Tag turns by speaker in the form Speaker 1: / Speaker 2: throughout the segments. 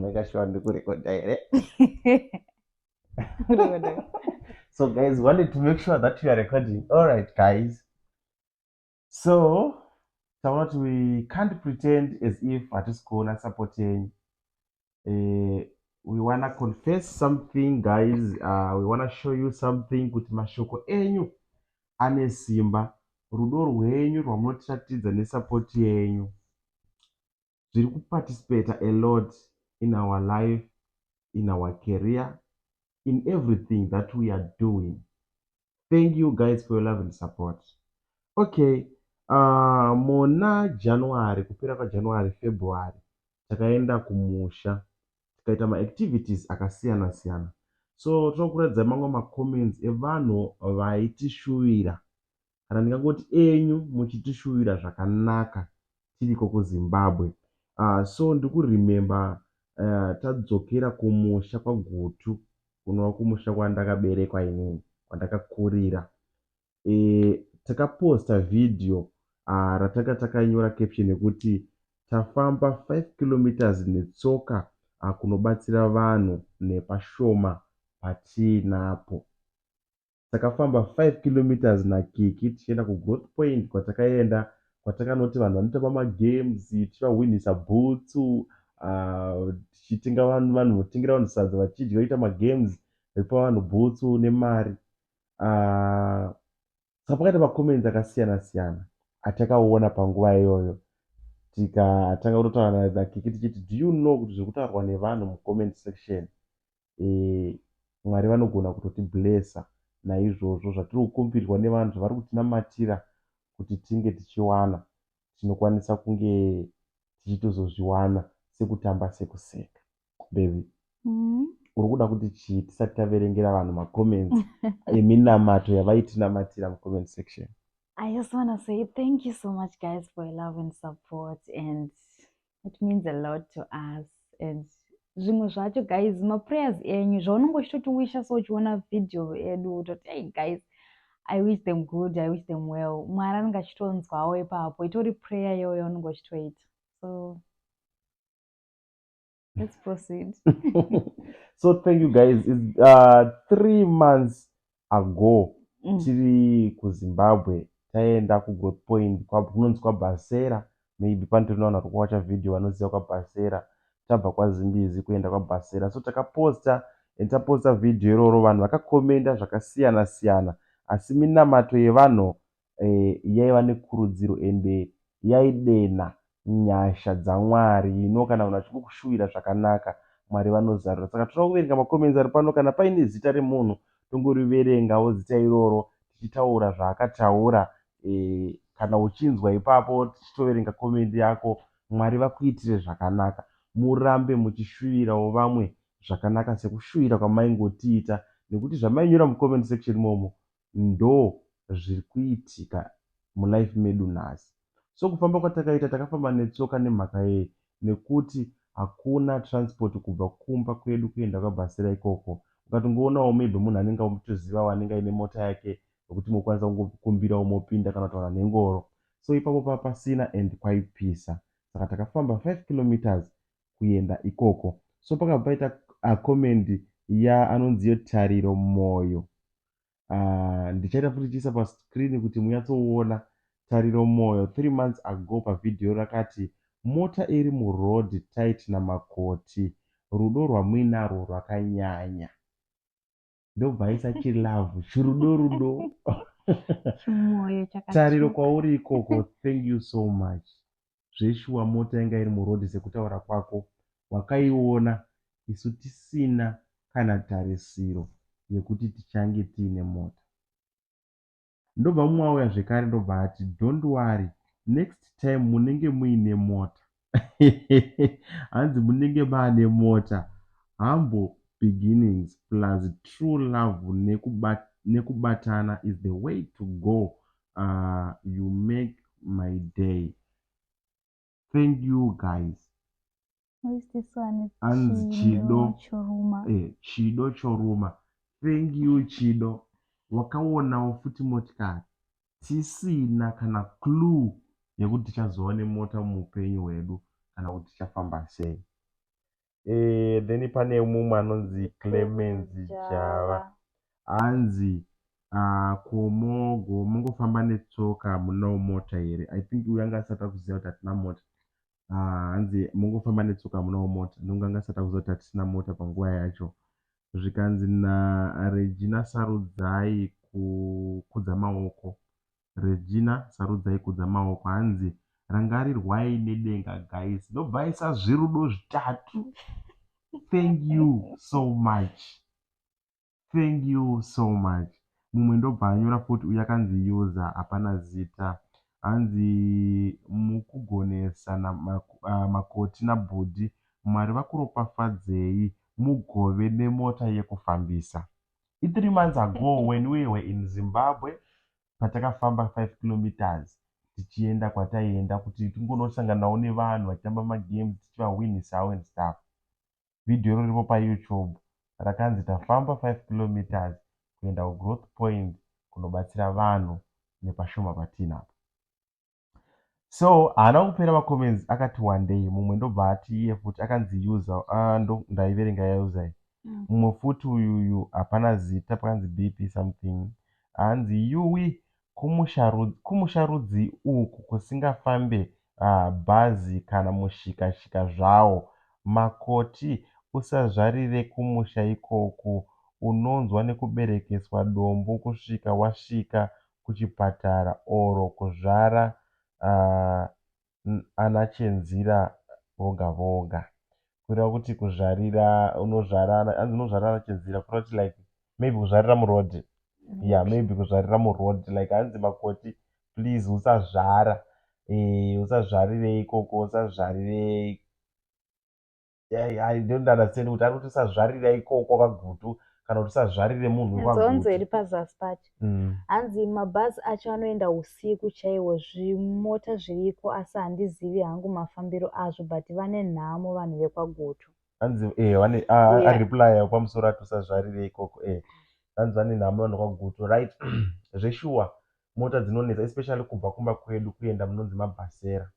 Speaker 1: makashuwa ndikurekodha here so guys wanted to make sure that you are recording all right guys so taona kuti we can't pretend as if hatisi kuona support yenyu uh, we wanna confess something guys uh, we wanna show you something kuti mashoko enyu ane simba rudo rwenyu rwamunotiratidza nesupport yenyu zviri kuparticipata a lot in our life, in our career, in everything that we are doing. Thank you guys for your love and support. Okay, uh, muna January, kupera kwaJanuary, February, takaenda kumusha tikaita maactivities akasiyana siyana so tinokuratidza mamwe macomments evanhu vaitishuvira kana ndingangoti enyu muchitishuvira zvakanaka tiriko kuZimbabwe ahh so ndikuremember ahh tadzokera kumusha kwaGutu kunova kumusha kwandakaberekwa inini kwandakakurira ehh takaposter video ahh ratanga takanyora caption yekuti tafamba five kilometres netsoka ahh kunobatsira vanhu nepashoma patiinapo. Takafamba five kilometres naKiki tichienda kuGrowth Point kwatakaenda kwatakanoti vanhu vanotamba magames tichivahwinhisa bhutsu tichitenga vanhu vanhu votengera vanhu sadza vachidya voita magames vepa vanhu bhutsu nemari saka pakaita macomments akasiyana siyana atakaona panguva iyoyo tikatanga kutotaura naKiki tichiti do you know kuti zviri kutaurwa nevanhu mucomment section Mwari vanogona kutoti blesser naizvozvo zvatiri kukumbirwa nevanhu zvavari kutinamatira kuti tinge tichiwana tinokwanisa kunge tichitozozviwana sekutamba sekuseka baby uri kuda kuti chii tisati taverengera vanhu macomments eminamato yavaitinamatira mucomment section I just want to
Speaker 2: say thank you so much guys for your love and support and it means a lot to us and zvimwe zvacho guys maprayers enyu zvaunenge uchitotiwisha so uchiona video edu utoti hey guys i wish them good i wish them well mwari anenge achitonzwawo ipapo itori prayer iyoyo yaunenge uchitoita so let's proceed
Speaker 1: so thank you guys It's, uh, three months ago tiri kuZimbabwe taienda kuGrowth Point kunonzi kwaBhasera maybe panotori nevanhu vari kuwacha video vanoziva kwaBhasera. Tabva kwaZimbizi kuenda kwaBhasera so takaposta and taposta video iroro vanhu vakakomenda zvakasiyana siyana asi minamato yevanhu yaiva nekurudziro ende yaidenha nyasha dzaMwari you know kana vanhu vachingokushuwira zvakanaka Mwari vanozarura saka tinoda kuverenga macomments ari pano kana paine zita remunhu tongoriverengawo zita iroro tichitaura zvaakataura kana uchinzwa ipapo tichitoverenga comment yako Mwari vakuitire zvakanaka murambe muchishuwirawo vamwe zvakanaka sekushuwira kwamaingotiita nekuti zvamainyora mucomment section imomo ndo zviri kuitika mu life medu nhasi. So kufamba kwatakaita takafamba netsoka nemhaka yei nekuti hakuna transport kubva kumba kwedu kuenda kwa Bhasera ikoko. Ukatongowonawo maybe munhu anenge amutozivawo anenge aine mota yake yekuti mokwanisa kungokumbirawo mopinda kana kutaura nengoro. So ipapo panga pasina and kwaipisa saka takafamba five kilometres kuenda ikoko. So pakabva paita comment ya anonzi ye Tariro Moyo uh, ndichaita futi chiisa pascreen kuti munyatsoona tariro moyo three months ago pavhidhiyo rakati mota iri muroad tight namakoti rudo rwamuinarwo rwakanyanya ndobva aisa chilove chirudo rudo tariro kwauri ikoko thank you so much zveshuwa mota yanga iri muroad sekutaura kwako wakaiona isu tisina kana tarisiro yekuti tichange tiine mota ndobva mumwe auya zvekare ndobva ati don't worry next time munenge muine mota hanzi munenge maane mota humble beginnings plus true love nekubatana is the way to go aah you make my day thank you guys. Who
Speaker 2: is this one? Anzi Chido
Speaker 1: Choruma. Eh,
Speaker 2: Chido Choruma.
Speaker 1: Thank you Chido. Wakaonawo futi motikari tisina kana clue yekuti tichazova nemota muupenyu hwedu kana kuti tichafamba sei. eh, then pane mumwe anonzi clemens java hanzi ah, komogo mongofamba netsoka hamunawo mota here i think uyo anga asati akuziva kuti hatina mota ah, hanzi mongofamba netsoka hamunawo mota nonge anga asati akuziva kuti hatisina mota panguva yacho zvikanzi naregina sarudzai kukudza maoko Regina Sarudzai kudza maoko hanzi rangarirwai nedenga guys ndobvaisa zvirudo zvitatu thank you so much thank you so much mumwe ndobva anyora futi uyu akanzi user hapana zita hanzi mukugonesa na ah, makoti nabhudhi mwari vakuropafadzei mugove nemota yekufambisa I3 months ago when we were in Zimbabwe patakafamba 5 kilometres tichienda kwataienda kuti tingonosanganawo nevanhu vachitamba magames tichivahwinisawo and stuff. Video iro riripo paYouTube rakanzi tafamba 5 kilometres kuenda kuGrowth Point kunobatsira vanhu nepashoma patiinapo. So haana kupera macomments akati wandei mumwe ndobva ati iye futi akanzi user uh, ah, ndo ndaiverenga yauser iyi mm. mumwe futi uyuyu hapana zita pakanzi bp something hanzi yuwi kumusha rudzi uku kusingafambe uh, bhazi kana mushikashika zvawo makoti usazvarire kumusha ikoku unonzwa nekuberekeswa dombo kusvika wasvika kuchipatara or kuzvara ana chenzira voga voga kureva kuti kuzvarira unozvara hanzi unozvarira ana chenzira kureva kuti like maybe kuzvarira muroad yeah maybe kuzvarira muroad like hanzi makoti please usazvara eh usazvarire ikoko usazvarire i don't understand kuti ari kuti usazvarira ikoko kagutu kana kuti usazvarire munhu nzonzo iri pazasi
Speaker 2: pacho mm. hanzi mabhazi acho anoenda usiku chaiwo zvimota zviriko asi handizivi hangu mafambiro azvo but vane nhamo vanhu vekwagutu hanzi eh, vane
Speaker 1: areplya pamusoro ati usazvarire ikoko eh. hanzi vane nhamo vanhu kwagutu right zveshuwa mota dzinonetsa especially kubva kumba kwedu kuenda munonzi mabhasera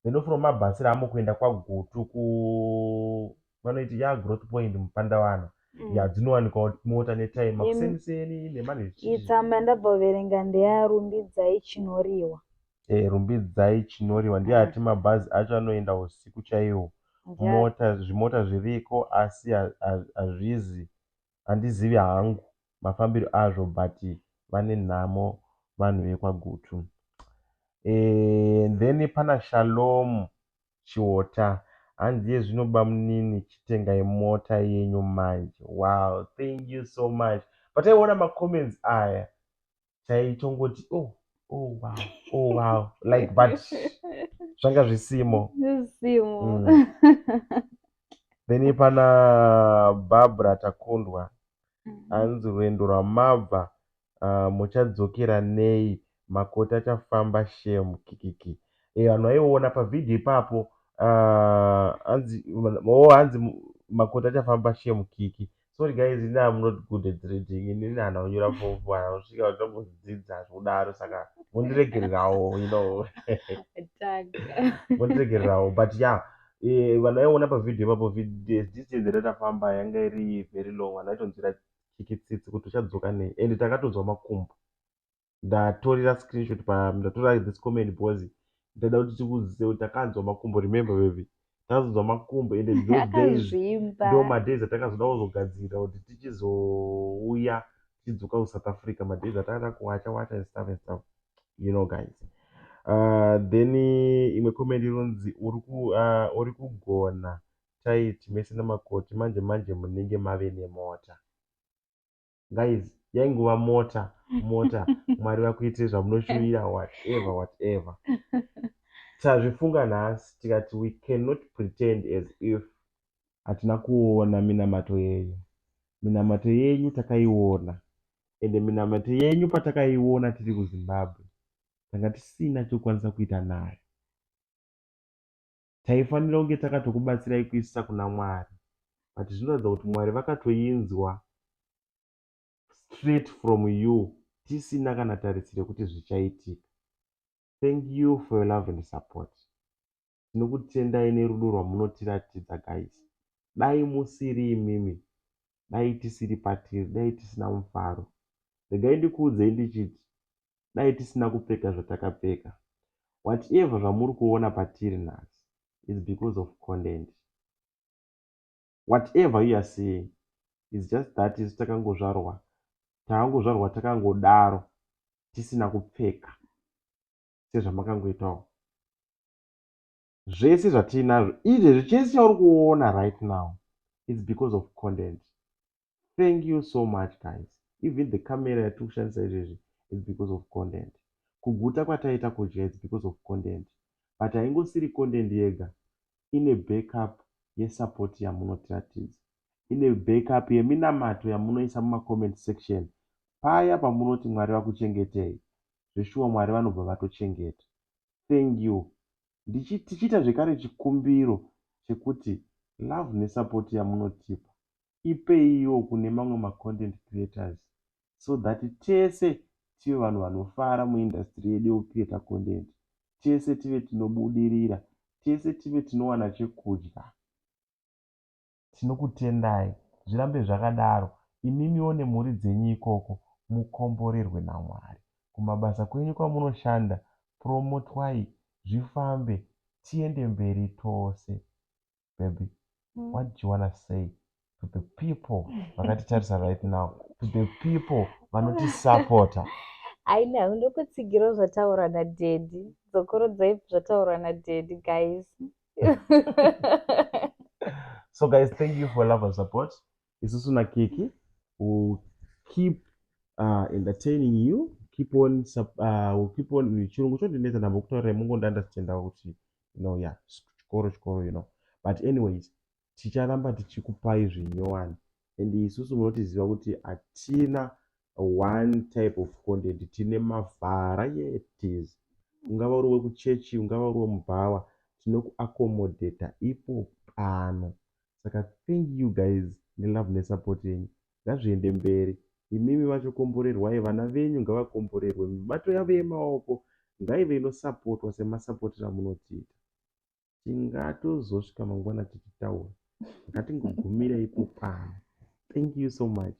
Speaker 1: then ofuna kumabatsira hamo kuenda kwagutu ku vanoiti ya growth point mupandawana mm. ya dzinowanikwa mota netime makuseniseni nemanetsama ndabva
Speaker 2: kuverenga ndeya rumbidzai chinoriwa e, rumbidzai
Speaker 1: chinoriwa ndiye ati mm. mabhazi acho anoenda usiku chaiwo mota zvimota zviriko asi hazvizi handizivi hangu mafambiro azvo but vane nhamo vanhu vekwa Gutu. Eeh then pana Shalom Chiota hanzi iye zvino bamunini chitengai mota yenyu manje. Wow thank you so much but taiona ma comments aya chaitongoti oh oh wow oh wow like but zvanga zvisimo zvisimo mm. then pana barbara takundwa mm-hmm. hanzi rwendo rwamabva uh, muchadzokera nei makoti achafamba shem kikiki e eh, vanhu vaiona pavhidhio ipapo uh, hanzi oh, hanzi makoti achafamba shem kiki Sorry guys ini am not good at reading ini ndihana kunyora fofu hana kusvika kutombodzidza zvekudaro saka mondiregererawo you know mondiregererawo but ya yeah, eh, vanhu vaiona pavhidhiyo ipapo this year dzere tafamba yanga iri very long vanhu vaitonzwira chikitsitsi kuti uchadzoka nei and takatonzwa makumbo ndatorera screenshot pa ndatorera this comment because ndada kuti tikuzive kuti takanzwa makumbo remember baby takazonzwa makumbo and those days ndo madays atakazoda kuzogadzirira kuti tichizouya tichidzoka kusouth africa madays atakaita kuwacha wacha and stuff and stuff you know guys uh, then imwe comment inonzi uri ku uh, uri kugona tight mese namakoti manje manje munenge mave nemota guys yaingova mota mota mwari vakuitire zvamunoshuvira whatever whatever tazvifunga nhasi tikati we cannot pretend as if hatina kuona minamato yenyu minamato yenyu takaiona ende minamato yenyu patakaiona tiri kuzimbabwe tanga tisina chokwanisa kuita nayo taifanira kunge takatokubatsirai kuisa kuna Mwari but zvinoratidza kuti Mwari vakatoinzwa straight from you tisina kana tarisiro yekuti zvichaitika. Thank you for your love and support. Tinokutendai nerudo rwamunotiratidza guys. Dai musiri imimi, dai tisiri patiri, dai tisina mufaro. Regai ndikuudzei ndichiti dai tisina kupfeka zvatakapfeka. Whatever zvamuri kuona patiri nhasi is because of content. Whatever you are seeing is just that isu takangozvarwa takangozvarwa takangodaro tisina kupfeka sezvamakangoitawo. zvese zvatiinazvo izvezvi chese chauri kuona right now its because of content thank you so much guys even the camera yatiri kushandisa izvezvi its because of content kuguta kwataita kudya its because of content but haingosiri content yega ine backup yesupport yamunotiratidza ine backup yeminamato yamunoisa mumacomment section paya pamunoti mwari vakuchengetei zveshuwa mwari vanobva vatochengeta thank you ndichi tichiita zvekare chikumbiro chekuti love nesupport yamunotipa ipeiwo kune mamwe macontent creators so that tese tive vanhu vanofara muindustry yedu yekucreata content tese tive tinobudirira tese tive tinowana chekudya tinokutendai zvirambe zvakadaro imimiwo nemhuri dzenyu ikoko mukomborerwe naMwari kumabasa kwenyu kwamunoshanda promotwai zvifambe tiende mberi tose baby what do you wanna say to the people vakatitarisa right now to the people vanotisapota I
Speaker 2: know ndokutsigirawo zvataura nadaddy dzokorodzai zvataurirwa nadaddy guys
Speaker 1: so guys thank you for love and support isusu nakiki will keep uh, entertaining you keep on uh, will keep on chirungu chondinetsa ndambo kutaura mungonda ndachitendawo kuti you know ya yeah, chikoro chikoro you know but anyways ticharamba tichikupai zvinyowani and isusu munotiziva kuti hatina one type of content tine mavarieties ungava uri wekuchechi ungava uri wemubhawa tinokuaccomodata ipo pano saka thank you guys nelove nesupport yenyu ngazviende mberi imimi vacho komborerwai vana venyu ngavakomborerwe mibato yavo yemaoko ngaive inosapotwa semasapotera munotiita tingatozosvika mangwana tichitaura ngatingogumirei ipo pano thank you so much